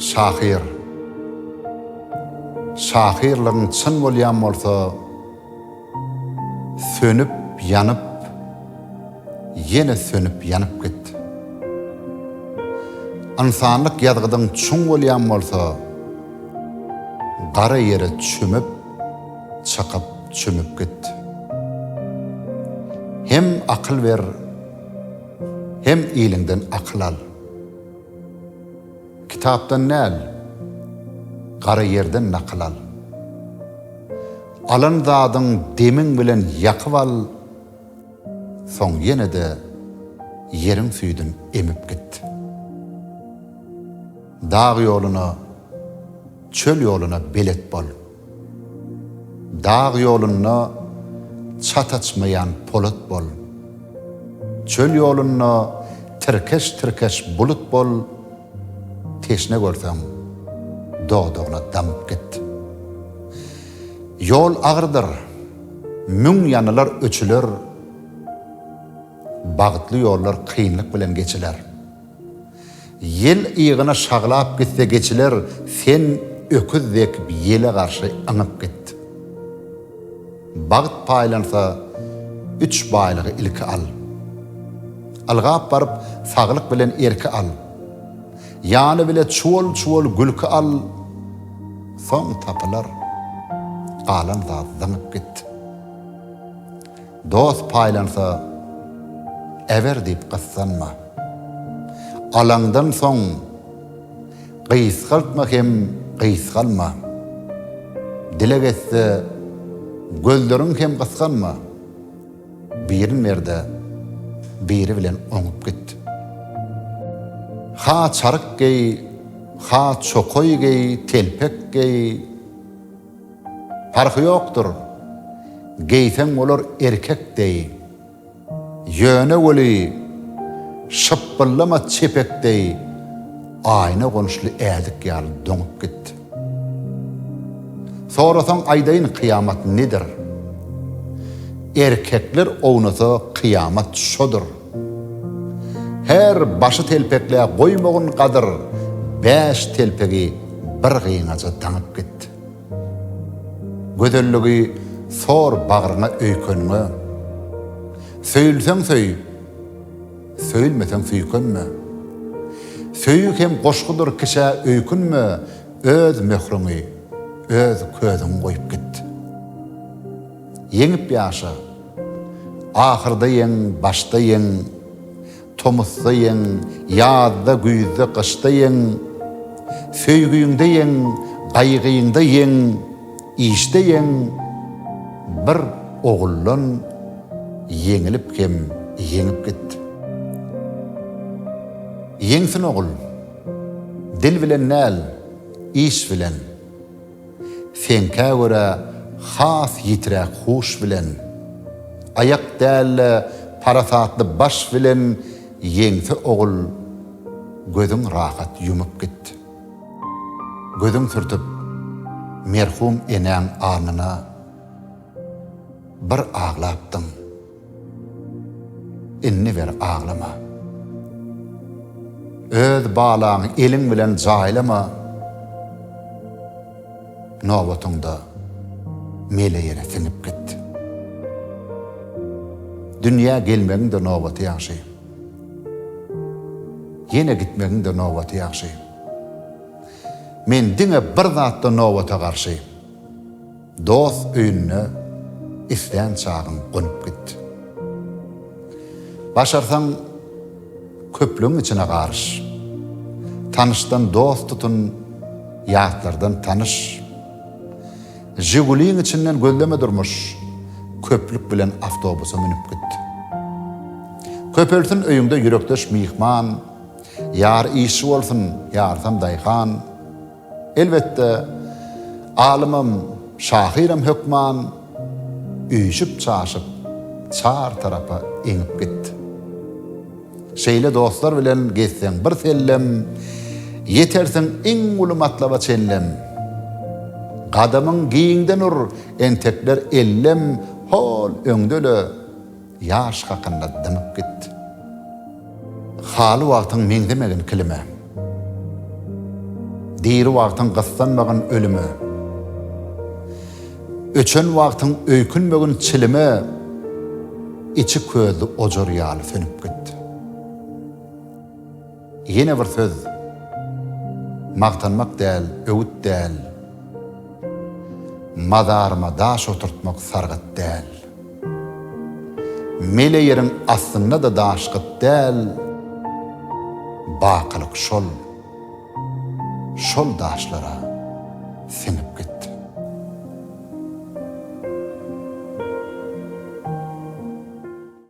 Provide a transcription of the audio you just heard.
Şahyr. Şahyrlygyň çyn bolýan bolsa, sönüp, ýanyp, ýene sönüp, ýanyp git. Ynsanlyk ýazgydyň çuň bolýan bolsa, gara ýere çümüp, çykyp, çümüp git. Hem akyl ber. Hem iliňden akyl al. Kitapdan däl, gara ýerden nakyl al. Alan zadyň demiň bilen ýakyp al, soň ýene-de ýeriň süýdün emip git. Dag ýoluna, çöl ýoluna belet bol. Dag ýolunda çat açmaýan polat bol. Çöl ýolunda tirkeş-tirkeş bulut bol, Teşne görseň, dodagyna damyp git. Ýol agyrdyr, müň ýanylar, öçüler, Bagtly ýollar kynlyk bilen geçiler. Ýel ygyna şaglap gitse geçiler, sen öküz dek ýele garşy yňyp git. Bagt paýlansa, üç baýlygy ilki al. Ylgap baryp, saglyk bilen erki al. Ýany bile çuwal-çuwal gülki al, soň tapylar. Galan zat zyňyp git. Dost paýlansa, eber diýip gyssanma. Alaňdan soň, gysgaltma hem gysgalma. Dileg etse, gözleriň hem gysganma. Birin ber-de, biri bilen oňup git. Ha çaryk geý, ha çokaý geý, telpek geý. Parhy ýokdur, geýseň bolar erkek deý. Ýöne weli, şypbyllama çepek deý, aýna gonuşly ädik ýaly doňup git. Sorasaň aýdaýyn kyýamat nedir? Erkekler ownasa kyýamat şodur. Her başy telpekle goýmagyn gadyr bäş telpegi bir gyňaja daňyp git. Gözelligi sor bagryňa öýkeniňe. Söýülseň söý, söýülmeseň süýkenme. Söýgi hem goşgudyr kiçä öýkünme öz möhrüňi öz közüňi goýup git. Ýeňip ýaşa! Ahyrda ýeň, başda ýeň, Tomusda ýeň, ýazda, güýzde, gyşda ýeň, Söýgiňde ýeň, gaýgyňda ýeň, işde ýeň, Bir oguldan ýeňilip hem ýeňip git. Ýeňsin ogul! Dil bilen däl, iş bilen. Seňkä görä has ýitiräk huş bilen, Aýak däl-de parasatly baş bilen Ýeňse ogul gözüň rahat ýumup git. Gözüň sürtüp merhum enäň alnyna Bir aglapdyň. Indi bir aglama. Öz balaňy eliň bilen jaýlama, nobatyňda mele ýere siňip git. Dünýä gelmegiň-de nobaty ýagşy. Ýene gitmegiň-de nobaty ýagşy. Men diňe bir zatda nobata garşy. Dost öýüne islän çagyň gonup git. Başarsaň, köplügiň içine garyş. Tanyşdan dost tutun, ýatlardan tanyş. Žiguliň içinden gözleme durmuş, köplük bilen awtobusa münüp git. Köpelsin öýüňde ýürekdeş myhman, ýary işçi bolsun, ýarysam daýhan. Elbetde, alymam, şahyram hökman üýşüp-çaşyp, çar tarapa eňip gitdi. Şeýle dostlar bilen gezseň bir sellem, ýetersiň iň uly matlaba çenlem. Gadamyň giňden ur, entekler ellem, hol öňde-le, Ýaş hakynda dymyp git. Haly wagtyň meňzemegin kilime. Diri wagtyň gyssanmagyn ölüme. Öçen wagtyň öýkünmegin çilime, Içi közli ojar ýaly sönüp git. Ýene bir söz. Magtanmak däl, öwüt däl. Mazaryma daş oturtmak sargyt däl. Mele ýeriň astynda-da daş gyt däl. Bakylyk şol. Şol daşlara siňip git.